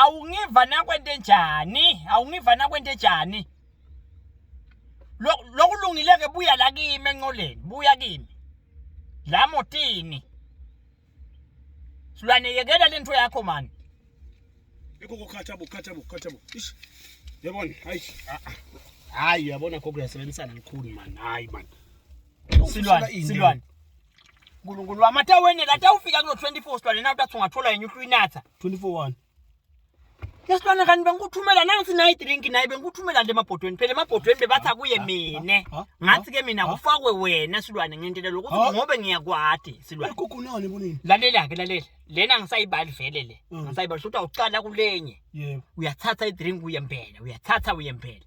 awungiva nakwento enjani awungiva nakwento enjani lokulungileke buya la kimi enqoleni buya kimi la motini silwane yekela lento yakho mani yiko kukhatha bo khatha bo khatha bo ish yabona hayi ah, ah. hayi uyabona kho kuyasebenzisana likhulu mani hayi mani silwane silwane Nkulunkulu wami athe wenela athe ufika kulo 24 silwane nawe uthi ungathola yenye uhlu inatha 24 lesilwane kanti bengikuthumela nansi nayi drink naye bengikuthumela nje emabhodweni phela emabhodweni bebathi akuye mina ngathi ke mina kufakwe wena silwane ngentela lokuthi ngobe ngiyakwati silwane kukhonani kunini lalela ke lalela lena ngisayibali vele le ngisayibali futhi awucala kulenye uyathatha idrink uyempela uyathatha uyempela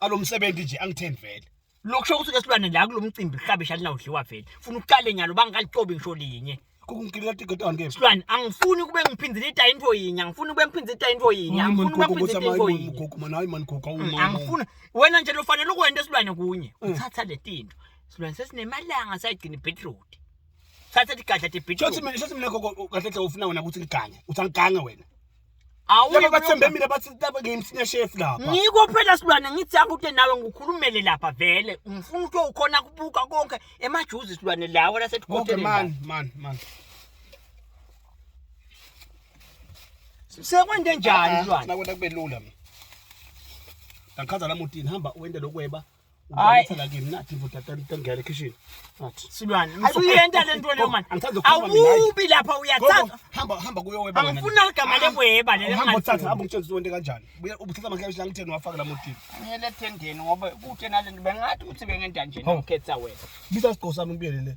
alomsebenzi nje angitheni vele lokusho ukuthi lesilwane la kulomcimbi hlabe shali nawudliwa vele funa uqale nyalo bangikaliqobi ngisho linye kukungikhila tigata nge silwane angifuni kube ngiphindile ita into yinye angifuni kube ngiphindile ita into yinye angifuni kube ngiphindile into yinye gogo mana hayi mani gogo awumama angifuni wena nje lofanele ukwenda silwane kunye mm. uthatha letinto silwane sesinemalanga sayigcina beetroot thatha ligadla de beetroot shothi mina shothi mina gogo kahle hle ufuna wena ukuthi liganye uthi angigange wena laba bathembe mina bathi laba ngiyimsine chef lapha ngiko phela silwane ngithi akude nawe ngikhulumele lapha vele ngifuna ukuthi ukhona kubuka konke emajuzi silwane lawo lasetikoteni man man man sekwende njani silwane nakwenda kube lula mina ngakhaza la mutini hamba uwende lokweba Hayi. Ngicela kimi nathi mfo tata ngicela ekhishini. Nathi. Silwane, usuyenta le nto leyo manje. Angithandi ukukhuluma mina, hayi. Awubi lapha uyathatha. Gogo, hamba hamba kuyo weba. wena. Angifuni aligama leweba leli Hamba uthathe, engathi. hamba ungitshele ukuthi wente kanjani. Buya ubuthatha amaklabishi la ngitheni wafaka la motini. Ngiyele ethendeni ngoba kude nalento bengathi ukuthi bengenta nje Hawu. nokhetha wena. Bisa isiqo sami ngibiyele le.